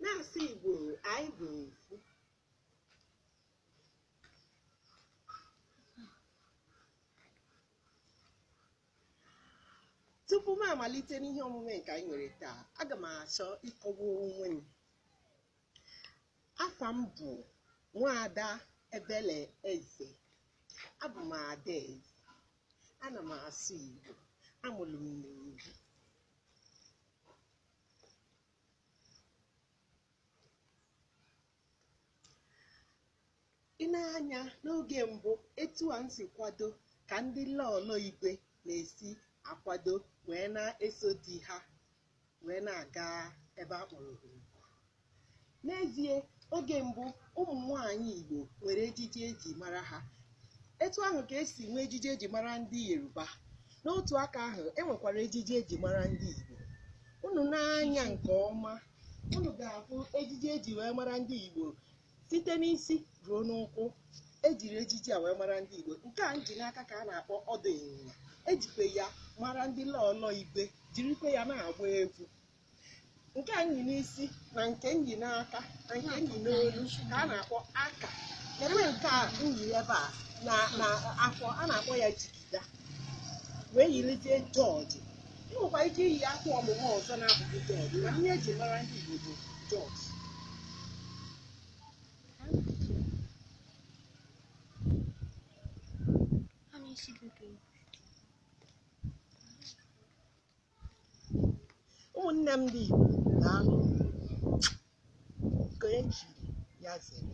na-asụ igbo anyị bụ ofu tupu m amalite n'ihe omume nke anyị nwere taa aga m achọ ịkọwa onwe m afa m bụ nwaada ebele eze abụ m ada eze ana m asụ igbo amụrụ m n'obi i nee anya n'oge mbụ etu a m si kwado ka ndị lọọlọ igwe na-esi akwado wee na-eso di ha wee na-aga ebe a kpọrọ oriri N'ezie, oge mbụ ụmụ nwaanyị Igbo nwere ejiji eji mara ha. Etu ahụ ka esi nwee ejiji eji mara ndị Yoruba. N'otu aka ahụ, e nwekwara ejiji eji mara ndị Igbo. Unu nee anya nke ọma, unu ga-ahụ ejiji eji wee mara ndị Igbo site n'isi ruo n'ụkwụ. Ejiri ejiji a wee mara ndị Igbo. Nke a m ji n'aka ka a na-akpọ ọdụ ịnyịnya. Ejikwa ya mara ndị lọọlọ Igwe, jirikwa ya na-agba egwu. nke a m yi n'isi na nke m yi n'aka na nke m yi n'olu ka a na-akpọ aka ebe nke a m yi ebe a na na afọ a na-akpọ ya jigida wee yirizie jọọjị i nwekwa ike iyi akwa ọmụma ọzọ na-abụghị jọọjị na ihe eji mara ndị Igbo bụ jọọjị ụmụnne m ndị Igbo na-alụ ka eji ya zere